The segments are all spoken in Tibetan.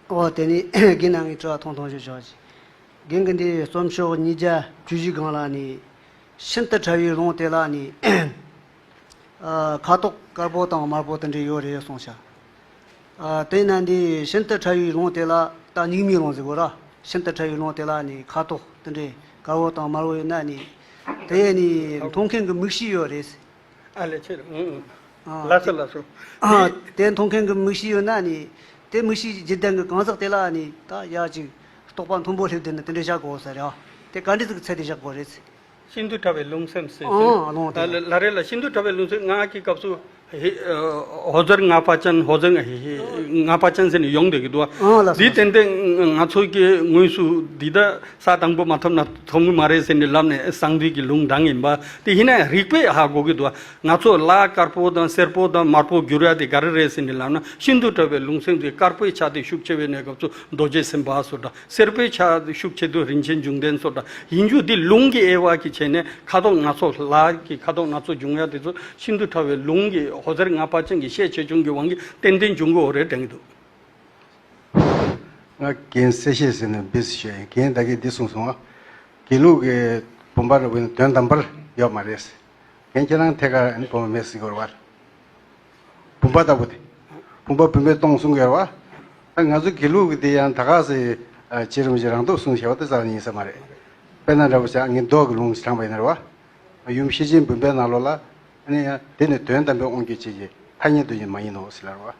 ཨོ། དེ་ནས་རྒན་རྣམས་ཀྱིས་དྲི་བ་ཐུང་ཐུང་ཞིག་ཞུ། རྒན་གྱིས་འདིའི་རྩོམ་ཤོག་ཉིས་བརྒྱ་བཅུ་བཞི་སྒང་ལ་ནི། ཤིན་ཏུ་ཕྲ་བའི་ལུང་དེ་ལ་ནི། ཁ་དོག་དཀར་པོ་དང་དམར་པོ་དེ་འདྲས་ཡོད་རེད་གསུངས། དེས་ན་འདི་ཤིན་ཏུ་ཕྲ་བའི་ལུང་དེ་ལ་ད་སྙིགས་མའི་ལུང་ཟེར་དགོས་ར། ཤིན་ཏུ་ཕྲ་བའི་ལུང་དེ་ལ་ནི་ཁ་དོག་དེ་འདྲས་དཀར་བོ་དང་དམར་བོ་ཡོད་ན་ནི། དེ་ནི་མཐོང་མཁན་གྱི་མིག་ཤེས་ཡོད་རེད། ཨ་ལས་ཕྱིར། ལ་སོ་ལ་སོ། དེ་མཐོང་མཁན་གྱི་མིག་ཤེས་ཡོད་ན་ནི། དེ་མིག་ཤེས་ཀྱི་རྗེས་ལྡན་གྱི་གང་ཟག་དེ་ལ་ནི་ད་ཡ་ཅིག། རྟོག་པ་མཐོན་པོ་སླེབས་དུས་ན་དེ་འདྲས་བཞག་གོ་ཟེར། དེ་ག་འདྲས་ཚིག་གི་ཚད་དེ་བཞག་པོ་རེད། ཤིན་ཏུ་ཕྲ་བའི་རླུང་སེམས་སེམས་སེམས། ཨ་ལོང་དེ། ལ་རེ་ལ་ཤིན་ཏུ་ཕྲ་བའི་རླུང་སེམས་ངག་གི་སྐབས་སུ། ཧོ་ཟེར་ངག་པ་ཅན་ཧོ་ཟེར་ངག་པ་ཅན་ཟེར་ནས་ཡོང་བསྡད་ཀྱི་འདུག་ཨ། འདི་ཏན་ཏན་ང་ཚོ་གི་ངོས་སུ་འདི་ལྟ། ས་དང་པོ་མ་ཐོབ་ན་ཐོབ་ངེས་མ་རེད་ཟེར་ནས་ལབ་ནས་གསང་འདུས་ཀྱི་ལུང་འདྲང་ཡིན་པ་དེ་ཡིན་ན་རིགས་པས་ཧ་གོ་གི་འདུག་བ་ང་ཚོ་ལ་དཀར་པོ་དང་སེར་པོ་དང་དམར་པོ་བསྒྱུར་ཡ་དེ་ག་རེ་རེད་ཟེར་ནས་ལབ་ན་ཤིན་ཏུ་བཀྲ་བའི་ལུང་སེམས་ཀྱི་དཀར་པོའི་ཆ་དེ་ཤུགས་ཆེ་བའི་གནས་སྐབས་སུ་རྡོ་རྗེ་སེམས་དཔའ་སོགས་འདྲ་སེར་པོའི་ཆ་དེ་ཤུགས་ཆེ་དུས་རིན་ཆེན་འབྱུང་ལྡན་སོགས་འདྲ་ཡིན་རྒྱུ་དེ་ལུང་གི་དབྱེ་བ་གི་བྱས་ནས་ཁ་དོག་སྣ་ཚོགས་ལ་གི་ཁ་དོག་སྣ་ཚོགས་འབྱུང་ཡ་དེ་ཚོ་ཤིན་ཏུ་ཕྲ་བའི་ལུང་གི་ཧོ་ཟེར་ལྔ་པ་ཅན་གྱི་ཤས་ཆེ་ཆུང་གི་དབང་གིས་ཏན་ཏན་འབྱུང་གི་འོ་རེད་དྲན་གི་འདུག། ང་རྒན་གསལ་བཤད་ཟེར་ནས་འབུད་ཟེར་ཞོད་རྒན་ད་གིས་འདི་གསུངས་སོང། དགེ་ལུགས་ཀྱི་བུམ་པར་དབུལ་ན་དོན་དམ་པར་ཡོད་མ་རེད། རྒན་ཁྱེད་རང་ཐད་ཀར་ཨེ་བུམ་པ་མེད་ཟེར་གྱི་ཡོད་བར། བུམ་པ་ལྟ་བུ་དེ་བུམ་པ་བུད་མེད་སྟོང་གསུང་གི་ཡོད་བར། ད་ང་ཚོ་དགེ་ལུགས་ཀྱི་དེ་ཡང་ད་ག་ཟེ་བྱེད་རུང་བྱེད་རང་སྟོབས་སྲུང་བྱ་བ་དེ་ཙམ་ཡིན་ས་མ་རེད། དཔེར་ན་འདྲ་པོ་ཆགས་ངས་མདོག་གི་ལུང་དྲངས་པ་ཡིན་རེད་བར། ཡུམ་ཤེས་ཆེན་བུམ་པའི་ནང་ལོགས་ལ། ཨ་ནི་ཡ་དེ་ནི་དོན་དམ་པའི་དབང་བསྒྱུར་བྱེད་ཀྱི་ཐ་སྙད་འདོན་རྒྱུ་མ་ཡིན་ནོ་ཟེར་ལར་བར།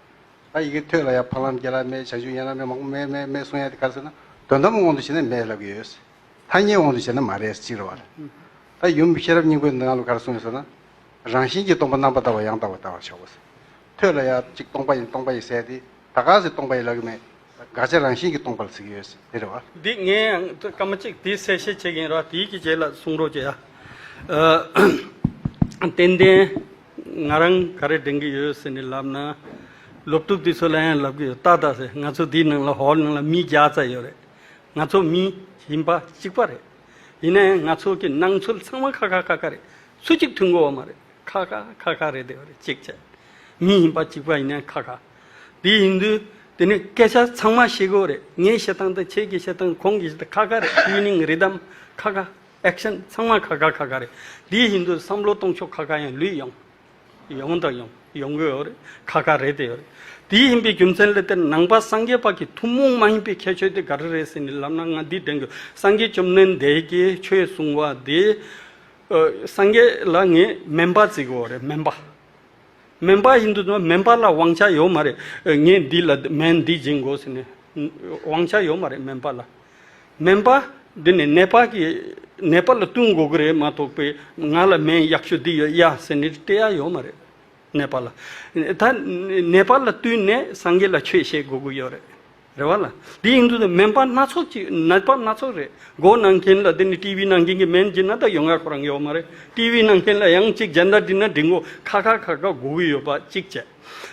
ད་ཡི་གེ་ཐོས་ལ་ཡང་ཕ་ལམ་རྒྱལ་ལམ་མེད་བྱང་ཆུབ་ཡན་ལག་མེད་མང་པོ་མེད་མེད་མེད་གསུང་ཡ་དེ་ག་ཟེར་ན་དོན་དམ་དབང་དུ་བྱས་ན་མེད་ལབ་ཀྱི་ཡོད། ཐ་སྙད་དབང་དུ་བྱས་ན་མ་རེད་སྤྱིར་བར། ད་ཡུམ་ཤེས་རབ་སྙིང་པོའི་མདོའི་ནང་ལ་ག་རེ་གསུང་ཡོད་ཟེར་ན། རང་བཞིན་གྱིས་སྟོང་པ་རྣམ་པར་དག་པ་ཡང་དག་པར་བལྟ་བར་བྱའོ། ཐོས་ལ་ཡང་གཅིག་སྟོང་པ་ཡིན་སྟོང་པ་ཡིན་ཟེར་ཏེ་ད་ག་ཟེར་སྟོང་པ་ཡིན་ལབ་ཀྱི་མེད། དགག་བྱ་རང་བཞིན་གྱིས་སྟོང་པ་ལ་ཚིག་ཡོད་དེ་རེད་བ། འདི་ངས་ཡང་སྐར་མ་གཅིག་དེའི་གསལ་བཤད་བྱེད་ཀྱིན་ར་དེའི་གི་རྗེས་ལ་གསུང་རོགས་གྱིས་ཨ། ཏན་ཏན། ང་རང་ག་རེ་དྲན་གི་ཡོད་ཟེར་ནས་ལབ་ན། སློབ་ཕྲུག་དེ་ཚོ་ལ་ཡང་ལབ་གི་ཡོད་ཏག་ཏག་ཟེར་ང་ཚོ་དེའི་ནང་ལ་ཧོལ་ནང་ལ་མི་བརྒྱ་རྩ་ཡོད་རེད། ང་ཚོ་མི་ཡིན་པ་གཅིག་པ་རེད། ཡིན་ན་ཡང་ང་ཚོ་གི་སྣང་ཚུལ་ཚང་མ་ཁ་ཁ་ཁ་ཁ་རེད་སུ་གཅིག་མཐུན་གོ་བ་མ་རེད་ཁ་ཁ་ཁ་ཁ་རེད་དེ་བ་རེད་གཅིག་བྱས། མི་ཡིན་པ་གཅིག་པ་ཡིན་ན་ཡང་ཁ་ཁ། དེ་ཡིན་དུས། དེ་ནི་སྐད་ཆ་ཚང་མ་ཤེས་དགོས་རེད། ངའི་བཤད་སྟངས་དང་ཁྱེད་ཀྱི་བཤད་སྟངས་ཁོང་གི་བཤད་སྟངས་ཁ་ཁ་རེད་དབྱིན་མིང་རིག་གཏམ་ཁ་ཁ། Action། ཚང་མ་ཁ་ཁ་ཁ་ཁ་རེད། དེ་ཡིན་དུས་བསམ་བློ་གཏོང་ཕྱོགས་ཁ་ཁ་ཡང་ལུས་ཡོང། ཡོང་དང་ཡོང། ཡོང་གི་ཡོད་རེད། ཁ་ཁ་རེད་དེ་ཡོད་རེད། དེ་ཡིན་པའི་རྒྱུ་མཚན་ལས་དེར་ནང་པ་སངས་རྒྱས་དཔག་གི་ཐུན་མོང་མ་ཡིན་པའི་ཁྱད་ཆོས་དེ་ག་རེ་རེད་ཟེར་ནས་ལབ་ན་ང་འདི་དྲན་དགོས་སངས་རྒྱས་བཅོམ་ལྡན་འདས་ཀྱིས་ཆོས་གསུང་བ་དེ། སངས་རྒྱས་ལ་ངས་སྨན་པ་བརྩི་དགོས་རེད་སྨན་པ། སྨན་པ་ཡིན་དུས་སྨན་པ་ལ་དབང་ཆ་ཡོད་མ་རེད། ངས་འདི་ལ་སྨན་འདི་སྦྱིན་དགོས་ཟེར་ནས་དབང་ཆ་ཡོད་མ་རེད་སྨན་པ་ལ། སྨན་པ་འདི་ནས་ནད་པ་གི་ནད་པ་ལ་བསྟུན་དགོས་ཀྱི་རེད་མ་གཏོགས་པའི་ང་ལ་སྨན་ཡག་ཤོས་འདི་ཡོད་ཡ་ཟེར་ནས་སྟེར་ཡ་ཡོད་མ་རེད་ནད་པ་ལ། ད་ནད་པ་ལ་བསྟུན་ནས་སངས་རྒྱས་ལ་ཆོས་བཤད་དགོས་ཀྱི་ཡོད་རེད། རེད་བ་ལ། དེ་ཡིན་དུས་སྨན་པ་སྣ་ཚོགས་ཀྱི་ནད་པ་སྣ་ཚོགས་རེད། སྒོ་ནང་མཁན་ལ་དེ་ནི་ཏི་བི་ནང་མཁན་གྱི་སྨན་སྦྱིན་ན་ད་ཡོང་ང་ཁོ་རང་ཡོད་མ་རེད། ཏི་བི་ནང་མཁན་ལ་ཡང་གཅིག་རྒྱལ་དར་བསྒྲིགས་ན་བསྒྲིགས་འགོ་ཁ་ཁ་ཁ་ཁ་སྒུག་གི་ཡོད་པ་གཅིག་བྱས།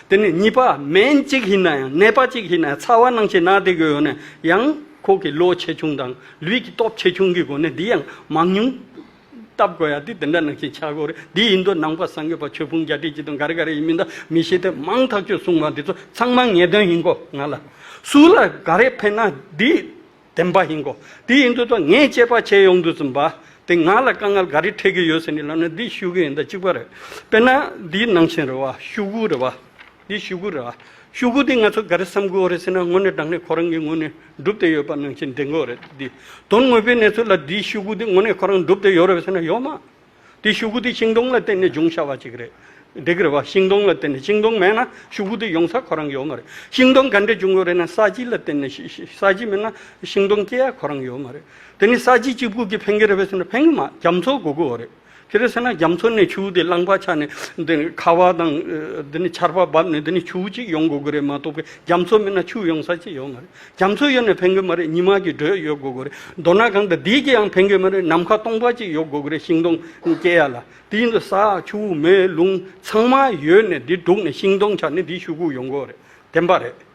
དེ་ནས་གཉིས་པ་སྨན་གཅིག་ཡིན་ན་ཡང་ནད་པ་གཅིག་ཡིན་ན་ཡང་ཚ་བ་སྣང་བྱེད་ནག་དེ་གོ་ཡོད་ན་ཡང་ཁོ་གི་བློ་ཆེ་ཆུང་དང་ལུས་ཀྱི་སྟོབས་ཆེ་ཆུང་གི་སྒོ་ནས་དེ་ཡང་མང་ཉུང། བལྟ་དགོས་ཡ་དེ་དེ་འདྲ་ནང་བཞིན་ཆགས་དགོས་རེད་དེ་ཡིན་དུས་ནང་པ་སངས་རྒྱས་པ་ཆོས་ཕུང་བརྒྱ་ཁྲི་ཅི་དང་ག་རེ་ག་རེ་ཡིན་མིན་དང་མི་ཤེས་ཐེངས་མང་ཐག་ཆོད་གསུངས་པ་འདི་ཚོ་ཚང་མ་ངེས་དོན་ཡིན་གོ་ང་ལ་སུ་ལ་ག་རེ་ཕན་ན་དེ་བདེན་པ་ཡིན་གོ་དེ་ཡིན་དུས་ད་ངས་དཔྱད་པ་བྱས་ཡོང་དུས་ཚིམ་པ་དེ་ང་ལ་དཀའ་ངལ་ག་རེ་འཕྲད་ཀྱི་ཡོད་ཟེར་ནས་ལབ་ན་འདི་ཤུགས་ཡོད་ཡིན་ད་གཅིག་པ་རེད་དཔེར་ན་འདིའི་ནང་བཞིན་རེད་བ་ཤུགས་དགུ་རེད་བ། འདི་ཤུ་གུ་ར། ཤུ་གུ་འདི་ང་ཚོ་ག་རེ་བསམ་དགོས་རེད་ཟེར་ན་ངོ་ནས་བསྒྲགས་ནས་ཁོ་རང་གི་ངོས་ནས་འགྲུབ་བསྡད་ཡོད་པ་ནང་བཞིན་འདྲེན་དགོས་རེད་འདི། དོན་དངོས་པོའི་གནས་ཚུལ་ལ་འདིའི་ཤུ་གུ་འདི་ངོ་ནས་ཁོ་རང་འགྲུབ་བསྡད་ཡོད་རེད་ཟེར་ན་ཡོད་མ། འདི་ཤུ་གུ་འདི་ཤིང་སྡོང་ལ་བརྟེན་ནས་བྱུང་བྱ་བ་ཅིག་རེད། འགྲིག་གི་རེད་བ། ཤིང་སྡོང་ལ་བརྟེན་ནས་ཤིང་སྡོང་མེད་ན་ཤུ་གུ་འདི་ཡོང་ས་ཁོ་རང་ཡོད་མ་རེད། ཤིང་སྡོང་ག་འདྲས་བྱུང་ཡོད་རེད་ན་ས་གཞི་ལ་བརྟེན་ནས་ཤིཤིཤིཤིས་ས་གཞི་མེད་ན་ཤིང་སྡོང་སྐྱེ་ཡ་ཁོ་རང་ཡོད་མ་རེད། དེ་ནི་ས་གཞི་གཅིག་པུ་གིས་ཕན་གི་རེད་བས་ཟེར་ན་ཕན་གི་མ་རྒྱ་མཚོ་དགོ་དགོས་རེད། དེ་རེད་ཟེར་ན་རྒྱ་མཚོ་ནས་ཆུ་བོ་དེ་རླངས་པ་ཆགས་ནས་འདི་ནི་ཁ་བ་དང་འདི་ནི་ཆར་པ་བབས་ནས་འདི་ནི་ཆུ་བོ་གཅིག་ཡོང་དགོས་ཀྱི་རེད་མ་གཏོགས་པའི་རྒྱ་མཚོ་མེད་ན་ཆུ་ཡོང་ས་ཅི་ཡོད་མ་རེད། རྒྱ་མཚོ་ཡོད་ནས་ཕན་གི་མ་རེད་ཉི་མ་གི་འགྲོས་ཡོད་དགོས་ཀྱི་རེད་མདོར་ན་གང་དང་དེའི་གིའང་ཕན་གི་མ་རེད་ནམ་མཁའ་སྟོང་པ་གཅིག་ཡོད་དགོས་ཀྱི་རེད་ཤིང་སྡོང་སྐྱེ་ཡ་ལ་དེའི་འདི་ས་ཆུ་བོ་མེ་རླུང་ཚང་མ་ཡོད་ནས་འདི་དྲུག་ནས་ཤིང་སྡོང་ཆགས་ནས་འདི་ཤུག་ཁུག་ཡོང་དགོས་རེད་བདེན་པ་རེད།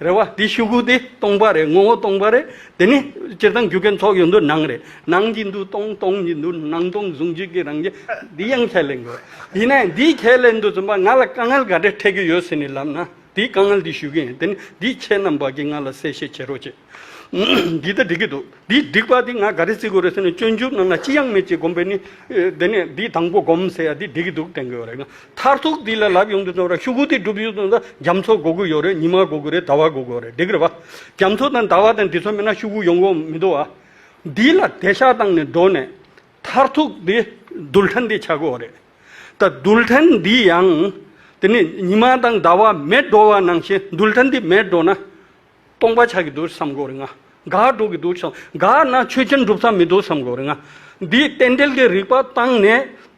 རེད་བ། དེའི་ཤུགས་ཀུན་དེ་སྟོང་པ་རེད་ངོ་བོ་སྟོང་པ་རེད། དེ་ནི་སྤྱིར་བཏང་རྒྱུ་གན་ཚོགས་ཡོད་འདུག་སྣང་རེད། སྣང་གིས་འདུག་སྟོང་སྟོང་གིས་འདུག་སྣང་སྟོང་ཟུང་འཇུག་གི་རང་རྒྱལ། འདི་ཡང་ཁས་ལེན་དགོས། དེ་ནས་འདིའི་ཁས་ལེན་དུ་བརྩོན་པ་ང་ལ་དཀའ་ངལ་ག་འདྲས་འཕྲད་ཀྱི་ཡོད་ཟེར་ནས་ལབ་ན། དེའི་དཀའ་ངལ་དེའི་ཞུ་གི་ཡིན་དེ་ནི་འདིའི་ཁྱེད་རྣམས་བར་གྱི་ང་ལ་གསལ་བཤད་བྱེད་རོགས་བྱེད། འདི་ལྟར་འགྲིག་གི་འདུག་འདི་འགྲིག་པ་འདི་ང་ག་རེ་བརྩི་དགོས་རེད་ཟེར་ནས་སྤྱོད་འཇུག་རྣམས་ལ་ཅི་ཡང་མེད་ཅེས་སྒོམ་པས་ནི། དེ་ནས་འདི་དང་པོ་སྒོམ་ཟེར་ཡ་འདི་འགྲིག་གི་འདུག་དྲན་གི་ཡོད་རེད་ན། མཐར་ཐུག་འདི་ལ་ལབ་ཡོང་དུས་ཚོང་ར་ཤུ་གུ་དེ་སྒྲུབ་ཡུལ་དུ་ན་རྒྱ་མཚོ་དགོ་གི་ཡོད་རེད་ཉི་མ་དགོ་གི་རེད་ཟླ་བ་དགོ་གི་ཡོད་རེད་འགྲིག་གི་རེད་པ། རྒྱ་མཚོ་དང་ཟླ་བ་དང་འདི་ཚོ་མེད་ན་ཤུ་གུ་ཡོང་གི་མི་འདུག་ཨ། འདི་ལ་དད་ཤག་བཏང་ནས་འགྲོ་ནས། མཐར་ཐུག་འདི་རྡུལ་ཕྲན་འདི་ཆགས་གི་ཡོད་རེད། ད་རྡུལ་ཕྲན་འདི་ཡང། དེ་ནས་ཉི་མ་དང་ཟླ་བ་མེད་འགྲོ་བ་ནང་བཞིན་རྡུལ་ཕྲན་འདི་མེད་འགྲོ་ན། སྟོང་པ་ཆགས་ཀྱི་འདུག་བསམ་དགོས་རེད་ང། དགག་སྒྲུབ་ཀྱི་འདུག་བསམ། དགག་ན་ཆོས་ཅན་སྒྲུབ་ས་མི་འདུག་བསམ་དགོས་རེད་ང། འདིས་རྟེན་འབྲེལ་གྱི་རིགས་པ་བཏང་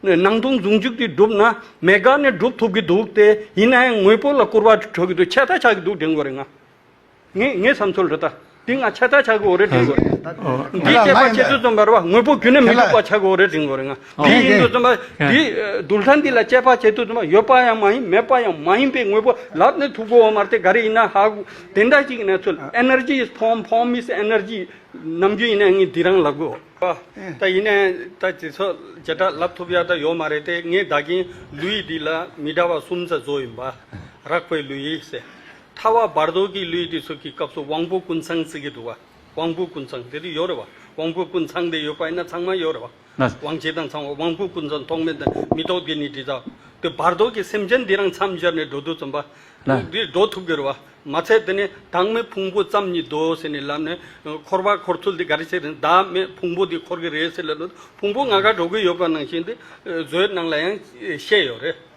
ནས། ནང་དུ་འཛུགས་འཇུག་གིས་བསྒྲུབ་ན། མེད་དགག་ནས་སྒྲུབ་ཐུབ་ཀྱི་འདུག་སྟེ། ཡིན་ན་ཡང་དངོས་པོ་ལ་སྐུར་བ་འཁྲོལ་གྱི་འདུག་ཆད་ལྟ་ཆགས་ཀྱི་འདུག་དྲན་དགོས་རེད་ང། ངའི་ངའི་བསམ་ཚུལ་རེད་ད། འདི་ང་ཆད་ལྟ་ཆགས་ཀྱི་འོ་རེད་དྲན་དགོས་རེད། འདིས་བཤད་པ་ཁྱེད་ཚོས་རྩོམ་པར་བ་དངོས་པོ་རྒྱུན་ནས་མི་འདུག་པ་ཆགས་ཀྱི་འོ་རེད་དྲན་དགོས་རེད་ང། དེ་ཡིན་དུ་བཙུན་པ་འདིས་རྡུལ་ཚང་འདི་ལ་དཔྱད་པ་བྱེད་དུ་བཙུན་པ་ཡོད་པ་ཡང་མ་ཡིན་མེད་པ་ཡང་མ་ཡིན་པའི་དངོས་པོ་ལབ་ནས་ཐུག་གོ་འོ་མ་དེ་ག་རེ་ཡིན་ན་ཧ་གོ། དེ་འདྲ་ཞིག་ཡིན་ན་ཚུལ Energy is form form is energy ནམ་རྒྱུན་ཡིན་ན་ངས་འདི་རང་ལབ་དགོས། ད་ཡིན་ན་ད་དེ་ཚོ་བྱེ་བྲག་ལབ་ཐུབ་ཡག་ད་ཡོད་མ་རེད་དེ་ངས་བདག་གིན་ལུས་འདི་ལ་མི་འདྲ་བ་གསུམ་ཙ་བཟོ་ཡིན་པ་རག་པའི་ལུས་ཟེར། ཐ་བ་བར་དོ་གི་ལུས་དེ་ཚོ་གི་སྐབས་སུ་དབང་པོ་ཀུན་ཚང་ཟེར་གྱི་འདུག་བ་དབང་པོ་ཀུན་ཚང་དེ་དུ་ཡོད་རེད་བ་དབང་པོ་ཀུན་ཚང་དེ་ཡོད་པ་ཡིན་ན་ཚང་མ་ཡོད་རེད་བ། ན། དབང་བྱེད་དང་ཚང་བ་དབང་པོའི་ཀུན་རྫོབ་རྟོག་མེད་དང་མི་རྟོག་དགེ་ནི་དྲི་ཟ། དེ་བར་དོ་ཀྱི་སེམས་ཅན་འདི་རང་མཚམས་སྦྱར་ནས་འགྲོ་དུས་བརྩོན་པ། ན། འདིས་འགྲོ་ཐུབ་གི་རུ་བ་མ་ཚད་དེ་ནས་བདག་མེད་ཕུང་པོ་ཙམ་ཉིད་དོ་ཟེར་ནས་ལབ་ནས། འཁོར་བར་འཁོར་ཚུལ་འདི་ག་རེ་བྱས་རིང་བདག་མེད་ཕུང་པོ་འདི་འཁོར་གི་རེད་ཟེར་ལབ་ནས་ཕུང་པོ་ང་ག་འགྲོ་གི་ཡོད་པ་ནང་བཞིན་དུ། བཟོའི་སྣང་ལ་ཡང་བཤད་ཡོད་རེད།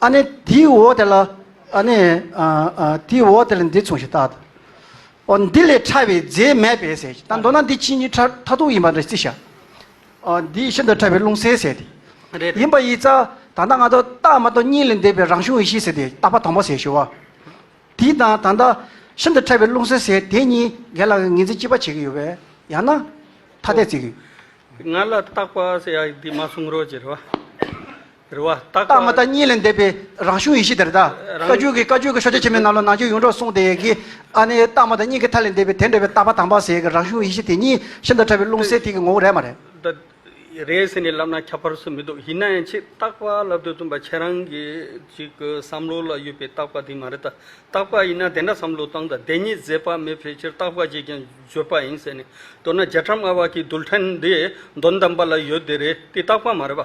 ཨ་ནི་དེའི་འོག་དེ་ལ། ཨ་ནི། དེའི་འོག་དེ་ལ་འདི་མཚུངས་ཤིག་བལྟ། འོ་འདི་ལས་ཕྲ་བའི་རྫས་མེད་པས་ཟེར། ད་མདོར་ན་འདི་ཕྱི་གཉིས་ཕྲ་མཐའ་དུག་ཡིན་པ་འདྲ་རྩི་བྱ། འོ་འདི་ཤིན་ཏུ་ཕྲ་བའི་རླུང་གསལ་ཟེར་ཏེ། ཡིན་པ་ཡིས་རྩ། ད་ལྟ་ང་ཐོག་རྟགས་མ་གཏོགས་གཉིས་ལས་འདས་པའི་རང་བྱུང་ཡེ་ཤེས་ཟེར་ཏེ་རྟགས་པ་དང་པོ་ཟེར་ཞུ་བ། དེས་ན་ད་ལྟ། ཤིན་ཏུ་ཕྲ་བའི་རླུང་གསལ་ཟེར་དེ་གཉིས་འགལ་ལ་ངེས་འཛིན་གཅིག་པ་བྱེད་ཀྱི་ཡོད་པས་ཡང་ན། ཐ་དད་བརྩི་གི། ང་ལ་རྟགས་པ་ཟེར་ཡག་འདི་མ་གསུང་རོགས་ཅེས་རེ་བ། རེ་བ་རྟག་པ། རྟག་མ་རྟག་གཉིས་ལས་འདས་པའི་རང་བྱུང་ཡེ་ཤེས་དེར་གདའ། བཀའ་བརྒྱུད་ཀྱི་བཀའ་བརྒྱུད་ཀྱི་ཤོ་ཆ་ཆེན་མོའི་ནང་ལོ་ནང་ཆོས་གཡུང་དྲུང་གསུངས་དེ་ཀྱི་ཨ་ནི་རྟག་མ་རྟག་གཉིས་ཀྱི་མཐའ་ལས་འདས་པའི་དེ་འདྲ་བའི་རྟག་པ་དང་པ་ཟེར་ཡའི་རང་བྱུང་ཡེ་ཤེས་དེ་ཉིད་ཤིན་ཏུ་ཕྲ་བའི་རླུང་གསལ་ཐིག་གི་ངོ་བོ་རེད་མ་རེད། ད་རེས་ཟེར་ནས་ལབ་ན་ཁྱབ་པར་སུ་མི་འདུག་ཡིན་ན་ཡང་ཆེས་རྟག་པ་ལབ་འདོད་བཏུན་པ་ཁྱེད་རང་གི་ཅིག་གི་བསམ་བློ་ལ་ཡོད་པའི་རྟག་པ་དེ་མ་རེད་ད། རྟག་པ་ཡིན་ན་དེ་འདྲ་བསམ་བློ་བཏང་ད་བདེན་གཉིས་ཟད་པ་མེད་ཕལ་ཆེར་རྟག་པ་ཅིག་ཀྱང་བརྗོད་པ་ཡིན་ཟེར་ནས་མདོར་ན་རྒྱ་གྲམ་ཨ་བ་ཀྱི་རྡུལ་ཕྲན་འདི་གདོན་དམ་པ་ལ་ཡོད་དེ་རེད་དེ་རྟག་པ་མ་རེད་པ།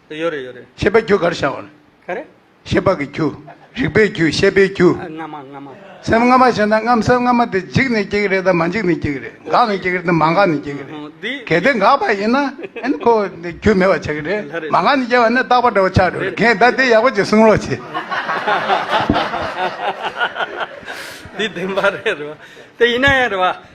ཡོད་རེད་ཡོད་རེད། ཤེས་པ་རྒྱུ་གར་བཞག་ཨོ། ག་རེ། ཤེས་པ་གི་རྒྱུ། རིག་པའི་རྒྱུ་ཤེས་པའི་རྒྱུ། སྔ་མ་སྔ་མ། སེམས་སྔ་མ་ཞེ་ན་སྔམ་སེམས་སྔ་མ་དེ་འཇིག་ནས་སྐྱེ་གི་རེད་དམ་མ་འཇིག་ནས་སྐྱེ་གི་རེད་འགག་ནས་སྐྱེ་གི་རེད་དམ་མ་འགག་ནས་སྐྱེ་གི་རེད་གལ་ཏེ་འགག་པ་ཡིན་ན་ཨེན་ཁོ་རྒྱུ་མེད་པ་ཆགས་གི་རེད་མ་འགག་ནས་སྐྱེ་བ་ནི་རྟག་པ་འདྲ་བོ་ཆགས་འགྲོ་གི་རེད་གན་ད་དེ་ཡག་པོ་བྱེད་གསུང་རོགས་བྱེད། འདི་བདེན་པ་རེད་རེད་བ། དེ་ཡིན་ན་ཡང་རེད་བ།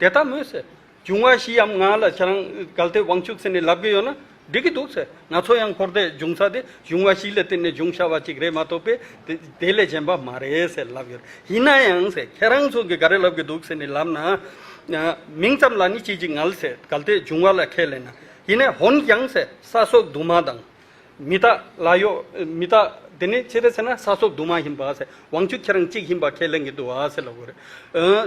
དེ་ལྟ་མོད་ཟེར། འབྱུང་བ་བཞི་འམ་ལྔ་ལ་ཁྱེད་རང་གལ་ཏེ་དབང་ཕྱུག་ཟེར་ནས་ལབ་ཀྱི་ཡོད་ན་འགྲིག་གི་འདུག་ཟེར། ང་ཚོ་ཡང་འཁོར་འདས་འབྱུང་ས་དེ་འབྱུང་བ་བཞི་ལ་བརྟེན་ནས་འབྱུང་བྱ་བ་ཅིག་རེད་མ་གཏོགས་པས་དེ་དེ་ལས་གཞན་པ་མ་རེད་ཟེར་ལབ་ཡོད། ཡིན་ན་ཡང་ཟེར་ཁྱེད་རང་ཚོ་གིས་ག་རེ་ལབ་ཀྱི་འདུག་ཟེར་ནས་ལབ་ན། མིང་ཙམ་ལ་ནི་ཅི་ཅིག་མངལ་ཟེར་གལ་ཏེ་འབྱུང་བ་ལ་ཁས་ལེན་ན། ཡིན་ནས་འོན་ཀྱང་ཟེར་ས་སོགས་དུ་མ་དང། མི་རྟག་ལ་གཡོག་མི་རྟག་དེ་ནི་ཅི་རེད་ཟེར་ན་ས་སོབ་དུ་མ་ཡིན་པ་ཟེར་དབང་ཕྱུག་ཁྱེད་རང་གཅིག་ཡིན་པ་ཁས་ལེན་གི་འདུག་བ་ཟེར་ལ་གོ་རེད་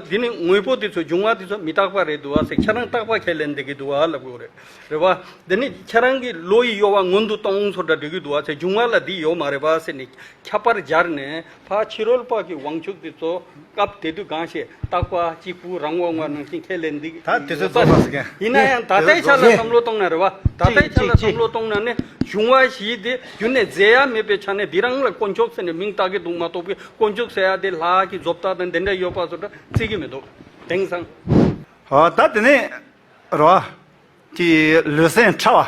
དེ་ནི་དངོས་པོ་དེ་ཚོ་འབྱུང་བ་དེ་ཚོ་མི་རྟག་པ་རེད་འདུག་བ་ཟེར་ཁྱེད་རང་རྟག་པ་ཁས་ལེན་འདེད་གི་འདུག་བ་ལ་གོ་རེད་རེད་བ། དེ་ནི་ཁྱེད་རང་གི་བློ་ཡི་གཡོ་བ་སྔོན་དུ་གཏོང་ཚོ་འདྲ་འདྲི་གི་འདུག་བ་ཟེར་འབྱུང་བ་ལ་འདི་ཡོད་མ་རེད་བ་ཟེར་ནས་ཁྱབ་པར་སྦྱར་ནས། ཕ་ཕྱི་རོལ་དཔག་གི་དབང་ཕྱུག་དེ་གཙོ། སྐབས་དེ་དུས་གང་ཞེས་བརྟག་པ་གཅིག་པུ་རང་དབང་བ་ནང་བཞིན་ཁས་ལེན་འདི། ད་དེ་ཚོའི་རྫོགས་ལགས་ཟེར་མཁན། ཡིན་ན་ཡང་ད་ལྟའི་ཆ་ལ་བསམ་བློ་གཏོང་ན་རེ་བ། ད་ལྟའི་ཆ་ལ་བསམ་བློ་གཏོང་ན་ནི་བྱུང་བ་བཞིའི་དེ་བརྒྱུད་ནས་མཛད་ཡ་མེད་པའི་ཆ་ནས་འདི་རང་ལ་དཀོན་མཆོག་ཟེར་ནས་མིང་བཏགས་ཀྱི་འདུག་མ་གཏོགས་པའི་དཀོན་མཆོག་ཟེར་ཡ་དེ་ལགས་ཀྱི་རྫོབ་རྟགས་དང་དེ་འདྲ་ཡོད་པ་སོགས་འདྲ་རྩིས་ཀྱི་མི་འདུག་དེང་སང། ད་དེ་ནས་རོ། ཀྱི་ལུས་སེམས་ཕྲ་བ།